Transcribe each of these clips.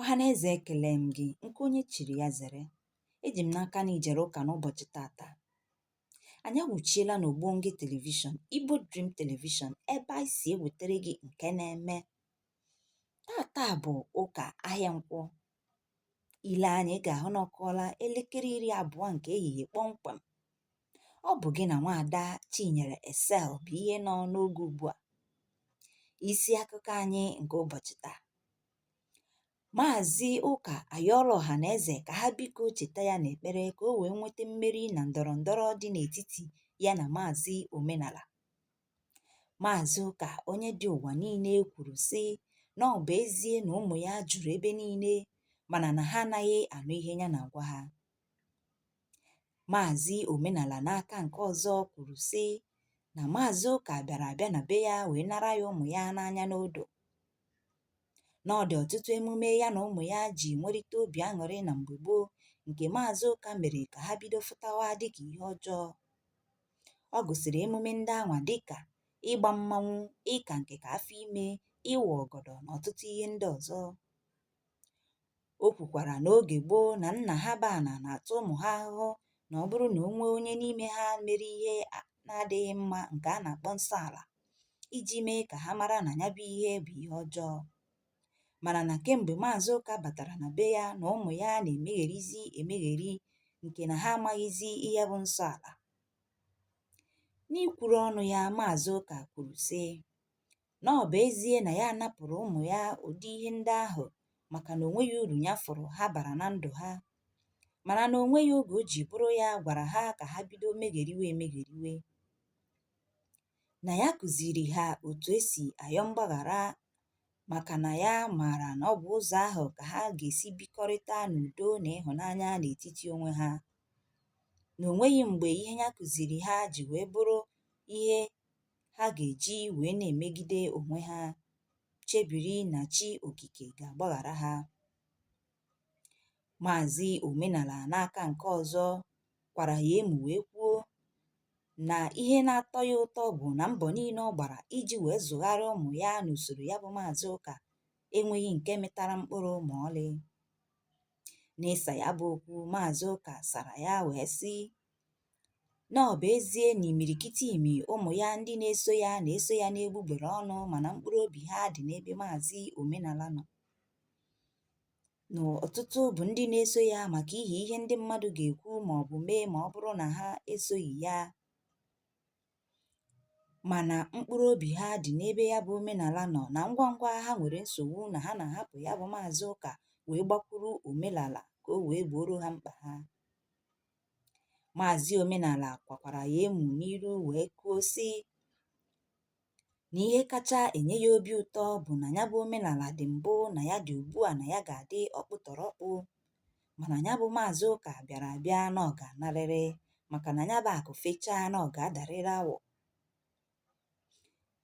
Ọhaneze ekele m gị nke onye chiri ya zere. Eji m n'aka na i jere ụka n'ụbọchị tata. Anyị awụchiela n'Ogbonge Television, Igbo Dream Television ebe anyị si ewetara gị nke na-eme. Tata bụ ụka ahịa nkwọ. I lee anya ị ga-ahụ na ọ kụọla elekere iri abụọ nke ehihie kpọmkwem. Ọ bụ gị na nwaada Chinyere Esel bụ ihe nọ n'oge ugbu a. Isi akụkọ anyị nke ụbọchị taa. Maazị Ụka ayọọla ọhaneze ka ha biko cheta ya n'ekpere ka o wee nweta mmeri na ndọrọ ndọrọ dị n'etiti ya na Maazị Omenala. Maazị Ụka onye dị ụwa niile kwuru sị na ọ bụ ezie na ụmụ ya juru ebe niile mana na ha anaghị anụ ihe ya na-agwa ha. Maazị Omenala n'aka nke ọzọ kwuru sị na Maazị Ụka bịara abịa na be ya wee nara ya ụmụ ya n'anya n'odo. Na ọ dị ọtụtụ emume ya na ụmụ ya ji nwerịta obi aṅụrị na mgbe gboo nke Maazị Ụka mere ka ha bido fụtawa dịka ihe ọjọọ. Ọ gụsịrị emume ndị anwa dịka ịgba mmanwụ, ịka nke ka afọ ime, ịwa ọgọdọ na ọtụtụ ihe ndị ọzọ. O kwukwara na oge gboo na nna ha bụ ana na-ata ụmụ ha ahụhụ na ọ bụrụ na o nwee onye n'ime ha mere ihe na-adịghị mma nke a na-akpọ nsọ ala iji mee ka ha mara na ya bụ ihe bụ ihe ọjọọ mana na kemgbe maazị ụka batara na be ya na ụmụ ya na-emegherizi emegheri nke na ha amaghịzi ihe bụ nsọ ala n'ikwuru ọnụ ya maazị ụka kwuru sị na ọ bụ ezie na ya napụrụ ụmụ ya ụdị ihe ndị ahụ maka na onweghị uru ya fụrụ ha bara na ndụ ha mana na onweghị oge o ji bụrụ ya gwara ha ka ha bido megheriwe emegheriwe na ya kụziri ha otu esi ayọ mgbaghara maka na ya maara na ọ bụ ụzọ ahụ ka ha ga-esi bikọrịta n'udo na ịhụnanya n'etiti onwe ha na onweghị mgbe ihe ya kụziri ha ji wee bụrụ ihe ha ga-eji wee na-emegide onwe ha chebiri na chi okike ga-agbaghara ha maazị omenala n'aka nke ọzọ kwara ya emu wee kwuo na ihe na-atọ ya ụtọ bụ na mbọ niile ọ gbara iji wee zụgharịa ụmụ ya n'usoro ya bụ maazị ụka enweghị nke mịtara mkpụrụ ma ọlị n'ịsa ya bụ okwu maazị ụka sara ya wee sị na ọ bụ ezie na imirikiti imi ụmụ ya ndị na-eso ya na-eso ya n'egbugbere ọnụ mana mkpụrụ obi ha dị n'ebe maazị omenala nọ na ọtụtụ bụ ndị na-eso ya maka ihi ihe ndị mmadụ ga-ekwu ma ọ bụ mee ma ọ bụrụ na ha esoghị ya mana mkpụrụ obi ha dị n'ebe ya bụ omenala nọ na ngwa ngwa ha nwere nsogbu na ha na-ahapụ ya bụ maazị ụka wee gbakwuru omenala ka o wee gbooro ha mkpa ha Maazị Omenala kwakwara ya emu n'iru wee kwuo sị na ihe kacha enye ya obi ụtọ bụ na ya bụ omenala dị mbụ na ya dị ugbu a na ya ga-adị ọkpụtọrọkpụ mana ya bụ maazị ụka bịara abịa na ọ ga-anarịrị maka na ya bụ akụ fechaa na ọ ga-adarịrị awọ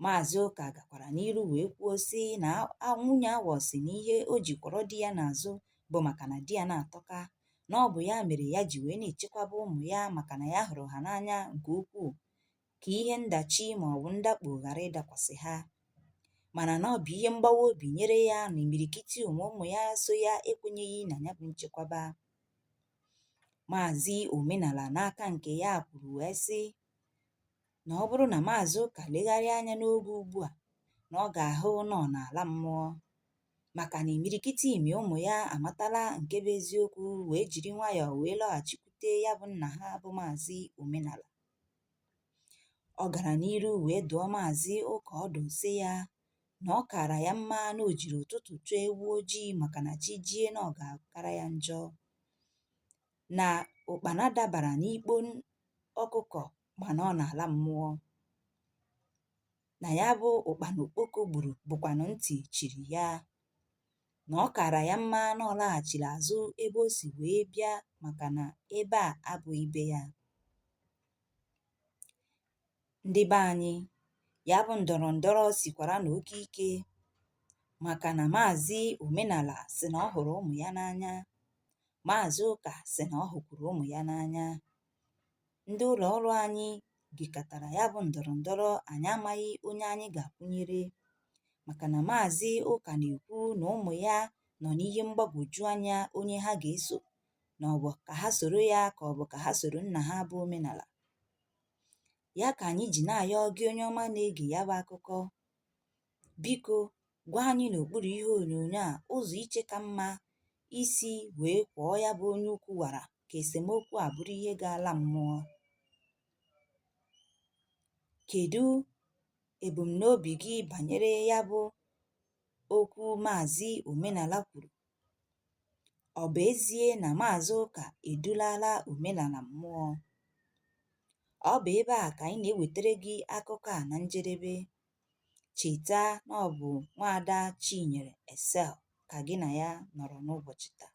Maazị Ụka gakwara n'iru wee kwuo sị na a- a- nwunye awọ sị na ihe o ji kwọrọ di ya n'azụ bụ maka na di ya na-atọka na ọ bụ ya mere ya ji wee na-echekwaba ụmụ ya maka na ya hụrụ ha n'anya nke ukwuu ka ihe ndachi ma ọ bụ ndakpo ghara ịdakwasị ha mana na ọ bụ ihe mgbawa obi nyere ya na imirikiti ụmụ ụmụ ya so ya ekwenyeghị na ya bụ nchekwaba Maazị Omenala n'aka nke ya kwuru wee sị na ọ bụrụ na Maazị Ụka legharịa anya n'oge ugbu a na ọ ga-ahụ na ọ na-ala mmụọ maka na imirikiti imi ụmụ ya amatala nke bụ eziokwu wee jiri nwayọọ wee lọghachikwute ya bụ nna ha bụ Maazị Omenala. Ọ gara n'iru wee dụọ Maazị Ụka ọdụ sị ya na ọ kaara ya mma na o jiri ụtụtụ chụọ ewu ojii maka na chi jie na ọ ga-akara ya njọ. Na ụkpana dabara n'ikpo ọkụkọ mana ọ na-ala mmụọ na ya bụ ụkpana okpoko gburu bụkwanụ ntị chiri ya na ọ kaara ya mma na ọ laghachiri azụ ebe o si wee bịa maka na ebe a abụghị be ya ndị be anyị ya bụ ndọrọ ndọrọ sikwara na oke ike maka na maazị omenala sị na ọ hụrụ ụmụ ya n'anya maazị ụka sị na ọ hụkwuru ụmụ ya n'anya ndị ụlọ ọrụ anyị gekatara ya bụ ndọrọ ndọrọ anyị amaghị onye anyị ga-akwụnyere maka na maazị ụka na-ekwu na ụmụ ya nọ n'ihe mgbagwoju anya onye ha ga-eso na ọ bụ ka ha soro ya ka ọ bụ ka ha soro nna ha bụ omenala ya ka anyị ji na-ayọ gị onye ọma na-ege ya bụ akụkọ Biko gwa anyị n'okpuru ihe onyonyo a ụzọ i che ka mma isi wee kwọọ ya bụ onye ukwu wara ka esemokwu a bụrụ ihe ga-ala mmụọ. Kedu ebumnobi gị banyere ya bụ okwu Maazị Omenala kwuru? Ọ bụ ezie na Maazị Ụka edulala omenala mmụọ? Ọ bụ ebe a ka anyị na-ewetara gị akụkọ a na njedebe. Cheta na ọ bụ nwaada Chinyere Excel ka gị na ya nọrọ n'ụbọchị taa.